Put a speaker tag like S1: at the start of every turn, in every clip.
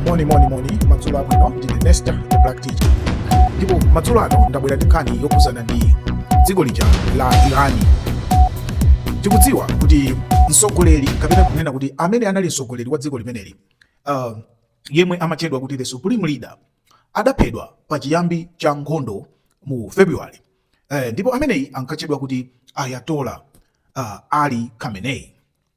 S1: moni moni moni madzulo abwino ndine nesta the black teacher ndipo madzulo ano ndabwera ndi nkhani yokhudzana ndi dziko lija la irani tikudziwa kuti mtsogoleri kapena kunena kuti amene anali mtsogoleri wa dziko limeneli uh, yemwe amatchedwa kuti the supreme leader adaphedwa pa chiyambi cha nkhondo mu february eh, ndipo ameneyi ankatchedwa kuti ayatola uh, ali khamenei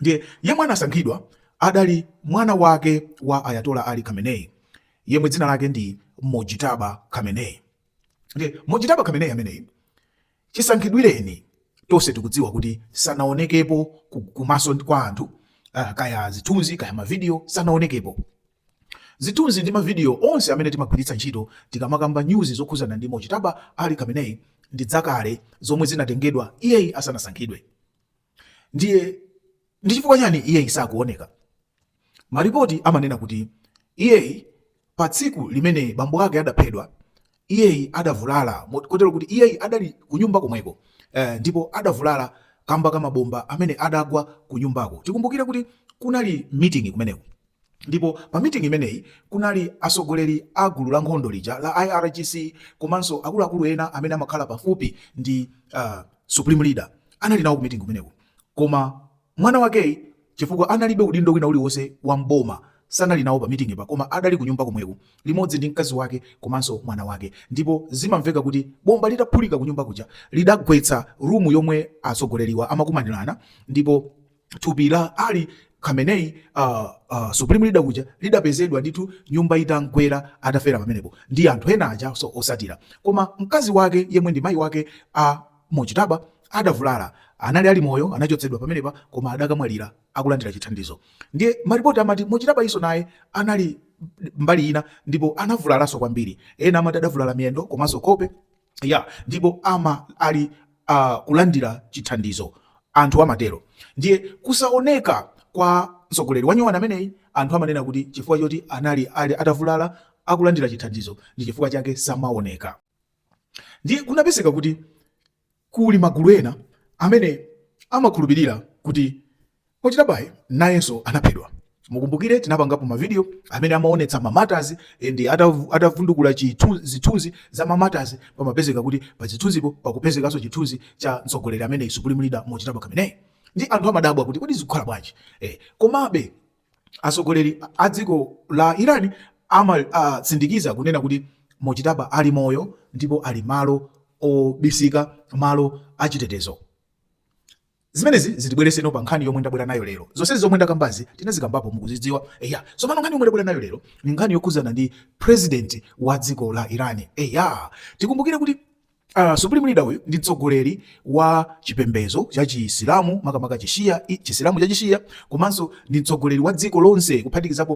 S1: ndiye yemwe anasankhidwa adali mwana wake wa ayatola ali khamenei yemwe dzina lake ndi mojitaba khamenei ndiye mojitaba khamenei ameneyi chisankhidwireni tonse tikudziwa kuti sanaonekepo kumaso kwa anthu uh, kaya zithunzi kaya mavidiyo sanaonekepo zithunzi ndi mavidiyo onse amene timagwiritsa ntchito tikamakamba news zokhudzana ndi mojitaba ali khamenei ndi zakale zomwe zinatengedwa iyeyi asanasankhidwe Ndiye ndi chifukwa chani iyeyi sakuoneka? Maripoti amanena kuti iyeyi pa tsiku limene bambo ake adaphedwa iyeyi adavulala kotero kuti iyeyi adali kunyumba komweko eh, ndipo adavulala kamba ka mabomba amene adagwa kunyumbako. Tikumbukire kuti kunali meeting kumeneko Ndipo pa meeting imeneyi kunali atsogoleri a gulu la nkhondo lija la IRGC komanso akuluakulu ena amene amakhala pafupi ndi uh, supreme leader anali nawo ku meeting kumeneko, koma mwana wakeyi chifukwa analibe udindo wina uliwonse wa mboma sanali nawo pa meeting po koma adali kunyumba komweko limodzi ndi mkazi wake komanso mwana wake, ndipo zimamveka kuti bomba litaphulika kunyumba kuja lidagwetsa rumu yomwe atsogoleriwa amakumanirana ndipo thupi la Ali Khamenei uh, uh, supreme leader uja lidapezedwa ndithu nyumba itamugwera atafera pamenepo ndi anthu ena aja otsatira koma mkazi wake yemwe ndi mayi wake a uh, Mojtaba adavulala anali ali moyo anachotsedwa pamenepa koma adakamwalira akulandira chithandizo ndiye maripoti amati Mojtaba iyenso naye anali mbali ina ndipo anavulalanso kwambiri ena amati adavulala miyendo komanso nkhope ya ndipo ama ali a kulandira chithandizo anthu amatero ndiye kusaoneka kwa mtsogoleri wanyowani ameneyi anthu amanena kuti chifukwa choti anali ali atavulala akulandira chithandizo ndi chifukwa chake samaoneka ndiye kunapezeka kuti kuli magulu ena amene amakhulupirira kuti Mojtabayi nayenso anaphedwa. Mukumbukire tinapangapo ma video amene amaonetsa ma martyrs ndi atavundukula zithunzi za ma martyrs pamapezeka kuti pa zithunzipo pakupezekanso chithunzi cha mtsogoleri ameneyi Supreme Leader Mojtaba Khamenei ndi anthu amadabwa kuti kodi zikukhala bwanji eh, komabe atsogoleri a dziko la Iran amatsindikiza kunena kuti Mojtaba ali moyo ndipo ali malo obisika, malo achitetezo. Zimenezi zitibwereseno pa nkhani yomwe ndabwera nayo lero. Zonsezi zomwe ndakambazi tinazikambapo mukuzidziwa. Eya, tsopano nkhani yomwe ndabwera nayo lero ni nkhani yokhuzana ndi president wa dziko la Iran. Eya, tikumbukire kuti Uh, Supreme Leader uyu ndi mtsogoleri wa chipembezo cha Chisilamu makamaka Chishia, Chisilamu cha Chishia komanso ndi mtsogoleri wa dziko lonse kuphatikizapo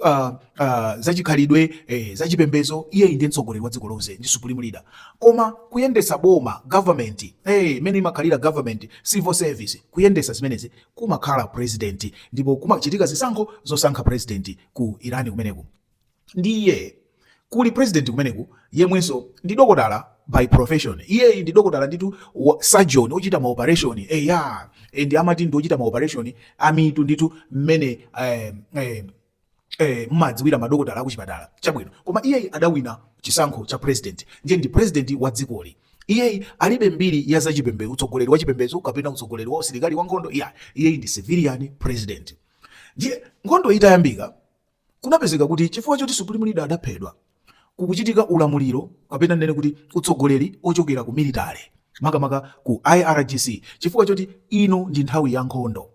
S1: uh, uh, zachikhalidwe eh, zachipembezo iyeyi ndiye mtsogoleri wa dziko lonse ndi supreme leader koma kuyendesa boma government eh, imene imakhalira government civil service kuyendesa zimenezi kumakhala president ndipo kumachitika zisankho zosankha president ku irani kumeneku ndiye kuli president kumeneku yemwenso ndi dokotala by profession iyeyi ndi dokotala nditu surgeon ochita maoperation eya eh, ndi amati ndi ochita maoperation amtima nditu mmene eh, eh, eh, mmadziwira madokotala akuchipatala chabwino koma iyeyi adawina chisankho cha president ndiye ndi president wa dzikoli iyeyi alibe mbiri ya zachipembedzo utsogoleri wa chipembedzo kapena utsogoleri wa usilikali wa nkhondo iyayi iyeyi ndi civilian president ndiye nkhondo itayambika kunapezeka kuti chifukwa choti supreme leader adaphedwa kukuchitika ulamuliro kapena nene kuti utsogoleri ochokera ku military makamaka ku irgc chifukwa choti ino ndi nthawi ya nkhondo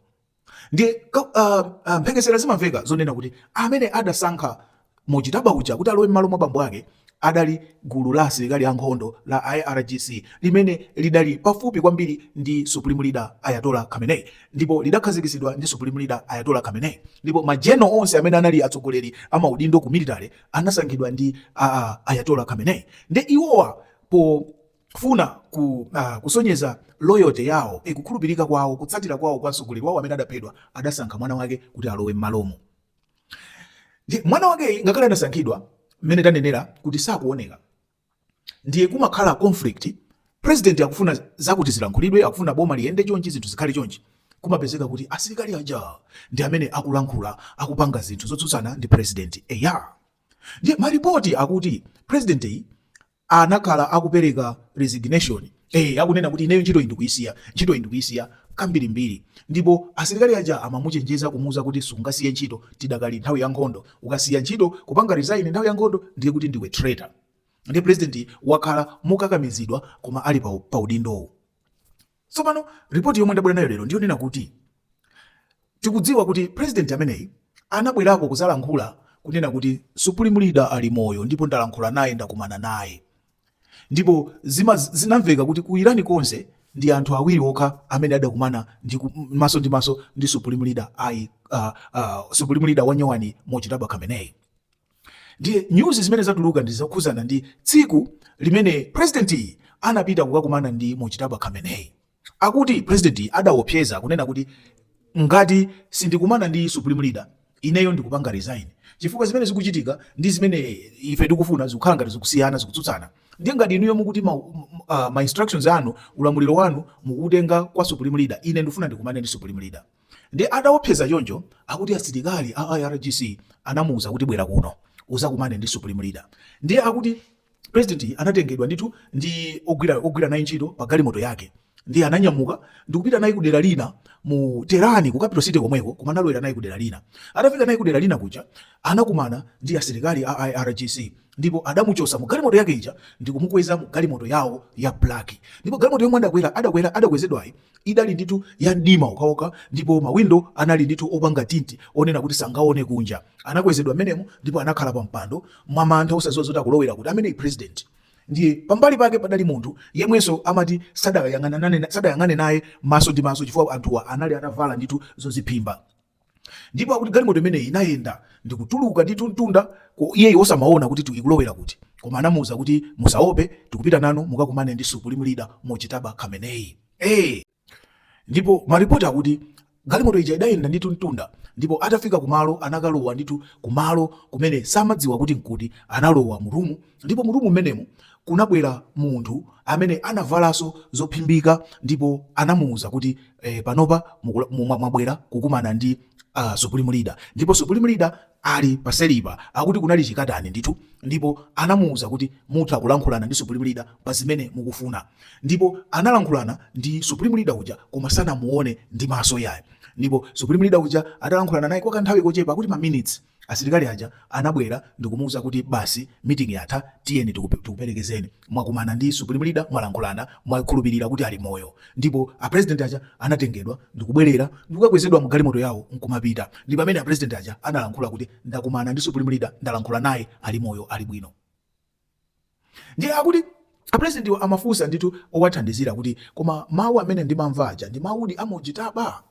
S1: ndiye uh, uh, mphekesera zimamveka zonena kuti amene adasankha Mojtaba uja kuti alowe m'malo mwa bambo ake adali gulu la asilikali ankhondo la IRGC limene lidali pafupi kwambiri ndi Supreme Leader Ayatollah Khamenei ndipo lidakhazikitsidwa ndi Supreme Leader Ayatollah Khamenei ndipo majeno onse amene anali atsogoleri amaudindo ku military anasankhidwa ndi uh, Ayatollah Khamenei ndiye iwowa po kufuna ku, uh, kusonyeza loyalty yawo e, kukhulupirika kwawo kutsatira kwawo kwa mtsogoleri wawo amene adaphedwa adasankha mwana wake kuti alowe mmalomo mwana wake ngakhale anasankhidwa mmene tanenera kuti sakuoneka ndiye kumakhala conflict president akufuna zakuti zilankhulidwe akufuna boma liyende chonchi zinthu zikhale chonchi kumapezeka kuti asilikali aja ndi amene akulankhula akupanga zinthu zotsutsana ndi president eya ndiye malipoti akuti president uyu anakhala akupereka resignation eh akunena kuti ineyo ntchito iyi ndikuyisiya ntchito iyi ndikuyisiya kambirimbiri ndipo asilikali aja amamuchenjeza kumuuza kuti sungasiye ntchito tidakali nthawi ya nkhondo ukasiya ntchito kupanga resign nthawi ya nkhondo ndiye kuti ndiwe traitor ndiye president wakhala mokakamizidwa koma ali pa, pa udindowu Tsopano ripoti yomwe ndabwera nayo lero ndiyonena kuti tikudziwa kuti president ameneyi anabwerako kuzalankhula kunena kuti supreme leader ali moyo ndipo ndalankhula naye ndakumana naye ndipo zima zinamveka kuti ku Iran konse ndi anthu awiri okha amene adakumana maso ndi maso ndi supreme leader ai uh, uh, supreme leader wanyowani Mojtaba Khamenei Ndiye news zimene zatuluka ndi zokhuzana ndi tsiku limene president yi anapita kukakumana ndi Mojtaba Khamenei. Akuti president yi adaopseza kunena kuti ngati sindikumana ndi supreme leader ineyo ndikupanga resign chifukwa zimene zikuchitika ndi zimene ife tikufuna zikukhala ngati zikusiyana zikutsutsana ndiye ngati inuyo mukuti ma, uh, ma instructions anu ulamuliro wanu mukutenga kwa supreme leader ine ndifuna ndikumane ndi supreme leader Nde ataopseza choncho akuti asilikali a IRGC anamuuza kuti bwera kuno uzakumane ndi supreme leader. Ndiye akuti president yi anatengedwa ndithu ndi ogwira naye ntchito pa galimoto yake ndiye ananyamuka ndikupita naye kudera lina mu Tehran ku capital city komweko koma analowera naye kudera lina. Atafika naye kudera lina kuja anakumana ndi asilikali a IRGC ndipo adamuchosa mu galimoto yake ija ndikumukweza mu galimoto yawo ya black ndipo galimoto yomwe adakwezedwayi Idali ndithu ya mdima okhaokha ndipo mawindo anali ndithu opanga tinti onena kuti sangaone kunja. Anakwezedwa mmenemo ndipo anakhala pa mpando mwamantha osaziwa zoti akulowera kuti ameneyi president. Ndiye pambali pake padali munthu yemwenso amati sadayang'anane sadayang'ane naye maso ndi maso chifukwa anthuwa anali atavala ndithu zoziphimba. ndipo akuti galimoto imeneyi inayenda ndikutuluka ndithu mtunda ku- iyeyi osamaona kuti tu- ikulowera kuti koma anamuwuza kuti musaope tikupita nanu mukakumane ndi supreme leader Mojtaba Khamenei hey! ndipo maripoti akuti galimoto ija idayenda ndithu mtunda ndipo atafika kumalo anakalowa ndithu kumalo kumene samadziwa kuti nkuti analowa mu rumu Ndipo mu rumu mmenemo kunabwera munthu amene anavalanso zophimbika, ndipo anamuuza kuti, Eh, panopa mukula, mu, mwa- mwabwera kukumana ndi ah, Supreme Leader. Ndipo Supreme Leader ali paselipa, akuti kunali chikatani ndithu, ndipo anamuuza kuti mutha kulankhulana ndi Supreme Leader pa zimene mukufuna. Ndipo analankhulana ndi Supreme Leader uja, koma sanamuone ndi maso ayi. Ndipo Supreme Leader uja atalankhulana naye kwa kanthawi kochepa, akuti ma minutes, Asilikali aja anabwera ndikumuuza kuti basi meeting yatha tiyeni tikupelekezeni mwakumana ndi supreme leader mwalankhulana mwakhulupilira kuti ali moyo ndipo a president aja anatengedwa ndikubwelera ndikukakwezedwa mugalimoto yawo nkumapita ndi pamene a president aja analankhula kuti ndakumana ndi supreme leader ndalankhula naye ali moyo ali bwino. Ndiye akuti apresidentiwa amafunsa ndithu owathandizira kuti koma mawu amene ndimamva aja ndi mawudi a Mojtaba?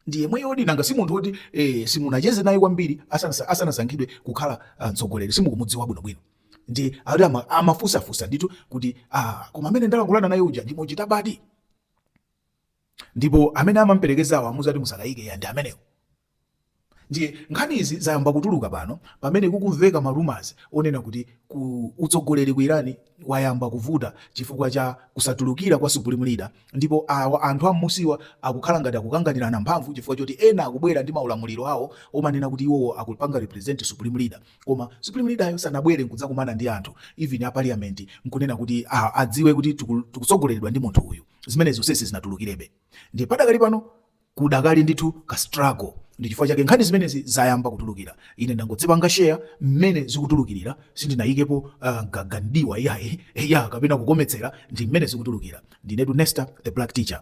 S1: Ndi yemweyodi? Nanga si munthu woti eh, simunacheze naye kwambiri asanasa- asanasankhidwe kukhala ah, mtsogoleri simukumudziwa bwinobwino? Ndiye akuti ama- amafunsafunsa ndithu kuti ah, koma amene ndalankhulana naye uja ndi Mojtabadi? Ndipo amene amamperekezawo amuza kuti musakayike eya ndi amenewo. Ndiye nkhanizi zayamba kutuluka pano pamene kukumveka ma rumours onena kuti utsogoleri ku Iran wayamba kuvuta chifukwa cha kusatulukira kwa Supreme Leader ndipo anthu a mmusiwa akukhala ngati akukanganirana mphamvu chifukwa choti ena akubwera ndi maulamuliro awo omanena kuti iwowo akupanga represent Supreme Leader koma Supreme Leader yo sanabwere nkudzakumana ndi anthu even a Parliament nkunena kuti adziwe kuti tikutsogoleredwa ndi munthu uyu zimene zonsezi sizinatulukirebe ndiye padakali pano Kudakali ndithu ka struggle ndi chifukwa chake nkhani zimenezi zayamba kutulukira. Ine ndangodzipanga share mmene zikutulukirira, sindinayikepo uh, gaga ndiwa ya, ya kapena kukometsera, ndi mmene zikutulukira. Ndinetu Nesta the Black Teacher.